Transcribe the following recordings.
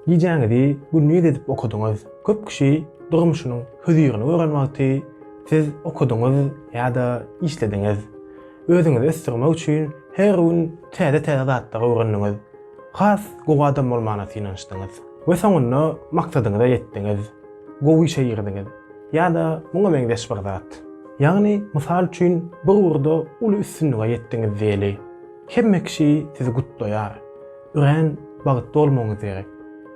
Gijäňizi gündiz edip okadyňyz. Köp kişi durmuşynyň hözirini gören wagty siz okadyňyz ýa-da işlediňiz. Özüňizi ösdürmek üçin her gün täze-täze zatlary öwrendiňiz. Has gowy adam bolmana synanyşdyňyz we soňunda maksadyňyza ýetdiňiz. Gowy işe girdiňiz ýa-da muňa meňzeş bir zat. Ýagny, mysal üçin, bir ugurda uly üstünlige ýetdiňiz diýeli. Hemme kişi sizi gutlaýar. Örän bagtly bolmagyňyz gerek.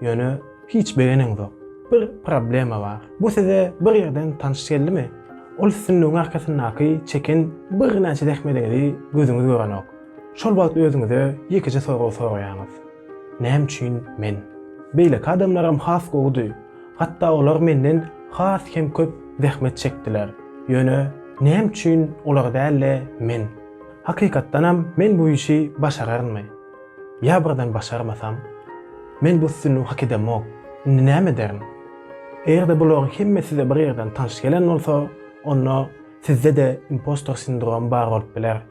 Ýöne hiç begeneňzok. Bir problema bar. Bu size bir ýerden tanyş geldimi? Ol sütünligiň arkasyndaky çeken birnäçe zähmediňizi gözüňiz görenok. Şol wagt özüňize ýekeje sorag soraýaňyz. Näme üçin men? Beýleki adamlaram has gowudy. Hatda olar menden has hem köp zähmet çekdiler. Ýöne näme üçin olar däl-de men? Hakykatdanam men bu işi başararynmy? Ýa birden başarmasam? Men bu üstünligi hak edemok. Indi näme ederin? Eger-de bularyň hemme size bir ýerden tanş gelen bolsa, onda sizde-de impostor sindromy bar bolup biler.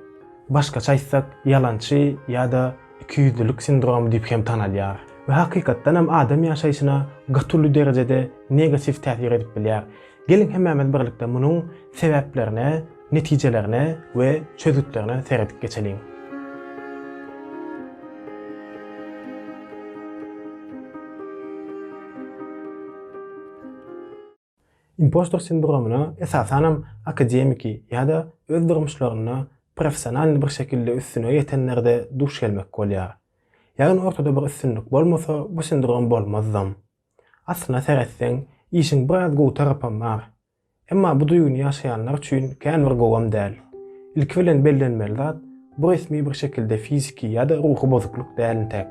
Başgaça aýtsak, ýalançy ýa-da ikiýüzlülik sindromy diýip hem tanalýar we hakykatdanam adam ýaşaýşyna gaty uly derejede negatiw täsir edip bilýär. Geliň hemmämiz birlikde munuň sebäplerine, netijelerine we çözgütlerine seredip geçeliň. Impostor sindromyna esasanam akademiki ýa-da öz durmuşlarynda professionalny bir şekilde üstüne ýetenlerde duş gelmek bolýar. Ýagny ortada bir üstünlik bolmasa bu sindrom bolmazdam. Aslyna seretseň, işiň biraz gowy tarapam bar. Emma bu duýgyny ýaşaýanlar üçin kän bir gowam däl. Ilki bilen bellenmeli zat, bu resmi bir şekilde fiziki ýa-da ruhy bozukluk däl entek.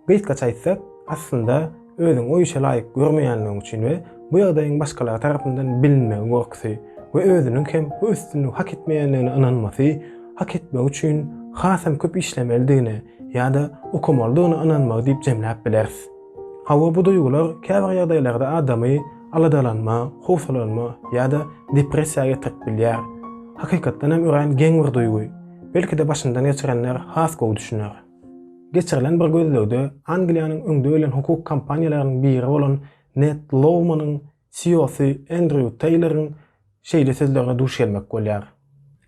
Gysgaça aýtsak, aslynda, özüňi o işe laýyk görmeýänligiň üçin we bu ýagdaýyň başgalar tarapyndan bilinmegi gorkusy we özüniň hem bu üstünligi hak etmeýänligine ynanmasy, hak etmegi üçin hasam köp işlemelidigine ýa-da okamalydygyna ynanmagy diýip jemläp bileris. Hawa, bu duýgular käbir ýagdaýlarda adamy aladalanma, howsalanma ýa-da depressiýa getirip bilýär. Hakykatdan hem örän geň bir duýgy. Belki-de başyndan geçirenler has gowy düşüner. Geçirilen bir gözlegde Angliýanyň öňde gelen hukuk kompaniýalarynyň biri bolan Ned Lowmanyň CEO-sy Endrýu Teýloryň şeýle sözlerine duş gelmek bolýar,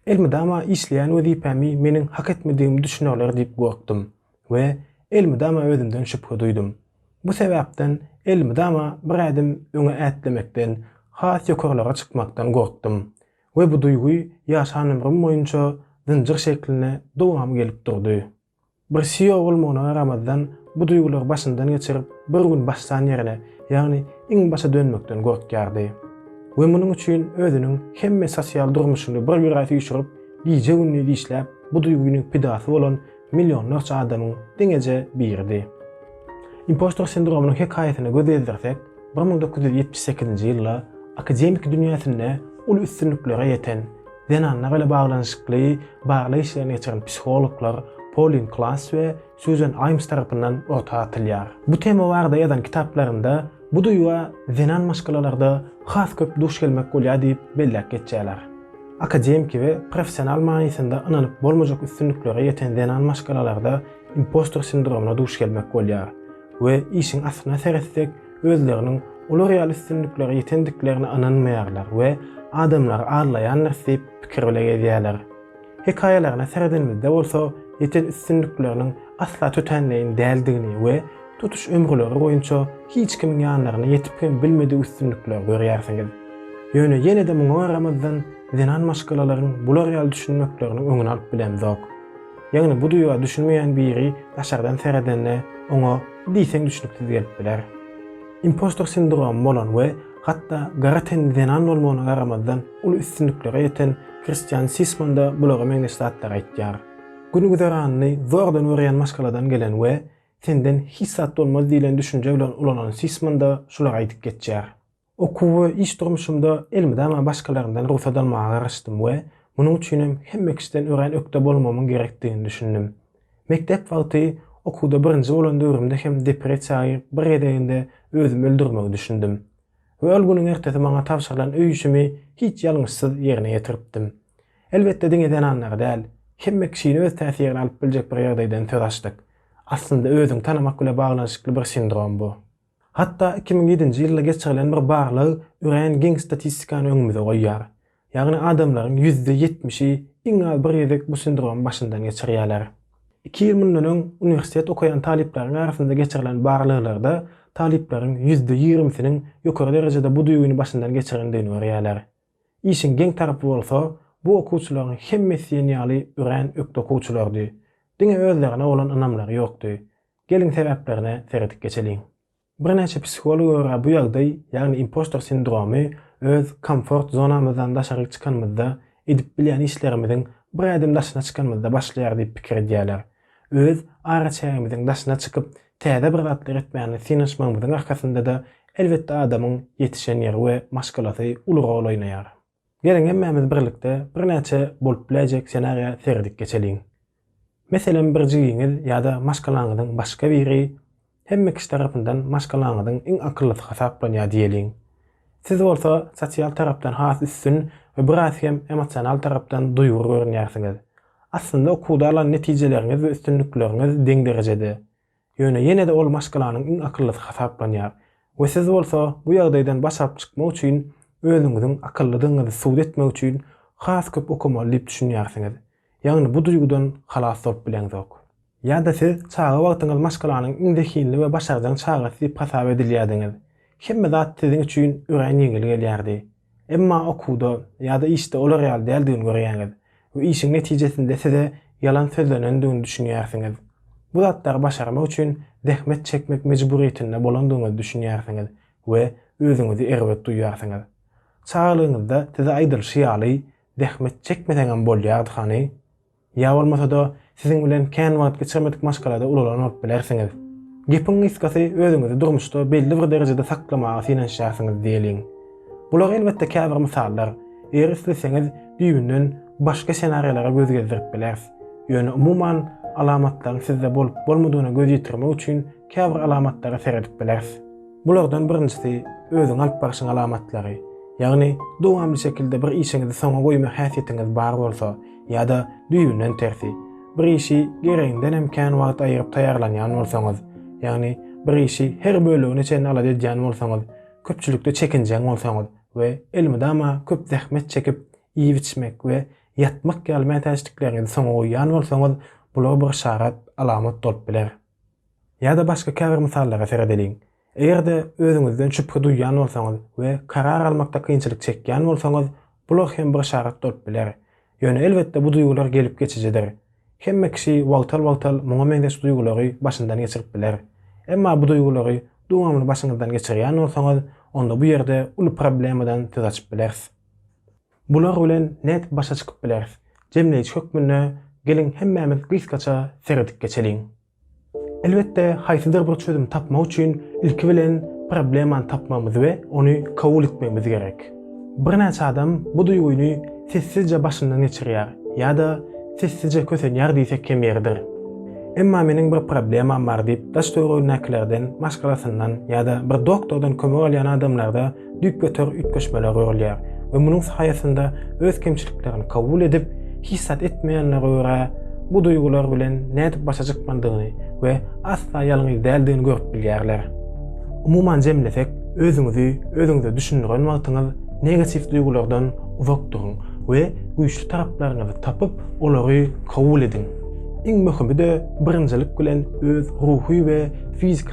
Elmydama işleýän wezipämi meniň hak etmedigimi düşünerler diýip gorkdum. we elmydama özümden şübhe duýdum. Bu sebäpden elmydama bir ädim öňe ätlemekden, has ýokarlara çykmakdan gorkdum we bu duýgy ýaşan ömrüm boýunça zynjyr şeklinde dowam gelip durdy. Bir CEO bolmagyna garamazdan bu duýgulary başyndan geçirip bir gün başlan ýerine, ýagny iň başa dönmekden gorkýardy we munuň üçin özüniň hemme sosial durmuşyny bir ýüre süýşürip, gije-gündiz işläp bu duýgynyň pidasy bolan Millionlarça adamyň diňeje biridi. Impostor sindromynyň hekaýasyna göz gezdirsek, bir müň dokuz ýüz ýetmiş sekizinji ýylda akademiki dünýäsinde uly üstünliklere ýeten, zenanlar ile baglanyşykly barlag işlerini geçiren psihologlar Polin Klass we Sýuzen Aýms tarapyndan orta atylýar. Bu tema barada ýazan kitaplarynda bu duýga zenan maşgalalarda has köp duş gelmek bolýar diýip belläp geçýärler. Akademiki we professional manysynda ynanyp bolmajak üstünliklere ýeten zenan maşgalalarda impostor sindromyna duş gelmek bolýar we işiň aslyna seretsek, özleriniň olar ýaly üstünliklere ýetendiklerine ynanmaýarlar we adamlary aldaýandyrys diýip pikir bile gezýärler. Hekaýalaryna seredenimizde bolsa ýeten üstünlikleriniň asla tötänleýin däldigini we tutuş ömürleri boýunça hiç kimiň ýanlaryna ýetip hem bilmedik üstünlikleri görýärsiňiz. Ýöne ýene-de muňa garamazdan, zenan maşgalalaryň bular ýaly düşünmekleriniň öňüni alyp bilemzok. Ýagny bu duýga düşünmeýän biri daşardan seredende oňa diýseň düşnüksiz gelip biler. Impostor sindromy bolan we hatda gara tenli zenan bolmagyna garamazdan uly üstünliklere ýeten Kristian Sisman-da bulara meňzeş zatlary aýtýar. Gün-güzeranyny zordan örýän maşgaladan gelen we Senden hiç zat bolmaz diýlen düşünje bilen ulanan Sisman-da şulary aýdyp geçýär. Okuw we iş durmuşymda elmydama başgalaryndan rugsat almaga garaşdym we munuň üçinem hemme kişiden örän ökde bolmamyň gerekdigini düşündim. Mekdep wagty okuwda birinji bolan döwrümde hem depressiýa girip bir gezeginde özümi öldürmegi düşündim. we ol günüň ertesi maňa tabşyrylan öý işimi hiç ýalňyşsyz ýerine ýetiripdim. Elbetde, diňe zenanlary däl, hemme kişini öz täsirine alyp biljek bir ýagdaýdan söz açdyk. Aslynda özüňi tanamak bile baglanyşykly bir sindrom bu. Hatda iki müň ýedinji ýylda geçirilen bir barlag örän giň statistikany öňümize goýýar. Ýagny adamlaryň ýüzde ýetmişi iň az bir gezek bu sindromy başyndan geçirýärler. Iki ýyl mundan öň uniwersitet okaýan talyplaryň arasynda geçirilen barlaglarda talyplaryň ýüzde ýigrimisiniň ýokary derejede bu düýbüni başyndan geçirendigini görýärler. Işiň geň tarapy bolsa, bu okuwçylaryň hemmesi diýen ýaly örän ökde okuwçylardy. Diňe özlerine bolan ynamlary ýokdy. Geliň sebäplerine seredip geçeliň. Birnäçe psihologa görä bu ýagdaý, ýagny impostor sindromy öz komfort zonamyzdan daşaryk çykanymyzda, edip bilýän işlerimiziň bir ädim daşyna çykanymyzda başlaýar diýip pikir edýärler. Öz araçägimiziň daşyna çykyp, täze bir zatlar etmäne synanyşmagymyzyň arkasynda-da, elbetde adamyň ýetişen ýeri we maşgalasy uly rol oýnaýar. Geliň hemmämiz birlikde birnäçe bolup biläýjek senariýa seredip geçeliň. Meselem bir jigiňiz ýa-da maşgalaňyzyň başga biri hemme kişi tarapyndan maşgalaňyzyň iň akyllysy hasaplanýar diýeliň. Siz bolsa sosial tarapdan has üstün we biraz hem emosional tarapdan duýgur görünýärsiňiz. Aslynda okuwda alan netijeleriňiz we üstünlikleriňiz deň derejede. Ýöne ýene-de ol maşgalanyň iň akyllysy hasaplanýar we siz bolsa bu ýagdaýdan baş alyp çykmak üçin özüňiziň akyllydygyňyzy subut etmek üçin has köp okamaly diýip düşünýärsiňiz. Ýagny bu duýgudan halas bolup bileňzok. Ýa-da siz çaga wagtyňyz maşgalanyň iň zehinli we başarjaň çagasy diýip hasap edilýärdiňiz. Hemme zat siziň üçin örän ýeňil gelýärdi. Emma okuwda ýa-da işde olar ýaly däldigini görýäňiz we işiň netijesinde size ýalan sözlenendigini düşünýärsiňiz. Bu zatlary başarmak üçin zähmet çekmek mejburyýetinde bolandygyňyzy düşünýärsiňiz we özüňizi erbet duýýarsyňyz. Çagalygyňyzda size aýdylyşy ýaly, zähmet çekmeseňem bolýardy hany? Ýa bolmasa-da, siziň bilen kän wagt geçirmedik maşgalada ulalan bolup bilersiňiz. Gepiň gysgasy, özüňizi durmuşda belli bir derejede saklamaga synanyşýarsyňyz diýeliň. Bular elbetde käbir mysallar. Eger isleseňiz, düýbünden başga senariýalara göz gezdirip bileris. Ýöne umuman, alamatlaryň sizde bolup-bolmadygyna göz ýetirmek üçin käbir alamatlara seredip bileris. Bulardan birinjisi, özüňi alyp barşyň alamatlary. Ýagny, dowamly şekilde bir işiňizi soňa goýma häsiýetiňiz bar bolsa, ýa-da düýbünden tersi, bir işi geregindenem kän wagt aýyryp taýýarlanýan bolsaňyz, ýagny bir işi her bölegine çenli alada edýän bolsaňyz, köpçülikde çekinjeň bolsaňyz we elmydama köp zähmet çekip iýip-içmek we ýatmak ýaly mätäçlikleriňizi soňa goýýan bolsaňyz, bular bir yşarat, alamat bolup biler. Ýa-da başga käbir mysallara seredeliň. Eger-de özüňizden şübhe duýýan bolsaňyz we karar almakda kynçylyk çekýän bolsaňyz, bular hem bir yşarat bolup biler. Ýöne elbetde bu duýgular gelip geçijidir. Hemme kişi wagtal-wagtal muňa meňzeş duýgulary başyndan geçirip biler. Emma bu duýgulary dowamly başyňyzdan geçirýän bolsaňyz, onda bu ýerde uly problemadan söz açyp bileris. Bular bilen nädip başa çykyp bileris? Jemleýji hökmünde geliň hemmämiz gysgaça seredip geçeliň. Elbetde haýsydyr bir çözüm tapmak üçin ilki bilen problemany tapmagymyz we ony kabul etmegimiz gerek. Birnäçe adam bu duýgyny sessizje başyndan geçirýär ýa-da sessizje kösenýär diýsek kem ýeridir. Emma meniň bir problemam bar diýip daş-töweregindäkilerden, maşgalasyndan ýa-da bir doktordan kömek alýan adamlarda düýpgöter üýtgeşmeler görülýär we munuň saýasynda öz kemçiliklerini kabul edip, hiç zat etmeýänlere görä, bu duýgular bilen nädip başa çykmalydygyny we asla ýalňyz däldigini görüp bilýärler. Umuman jemlesek, özüňizi özüňize düşündiren wagtyňyz negatiw duýgulardan uzak duruň we güýçli taraplaryňyzy tapyp, olary kabul ediň. Iň möhümi-de birinjilik bilen öz ruhy we fiziki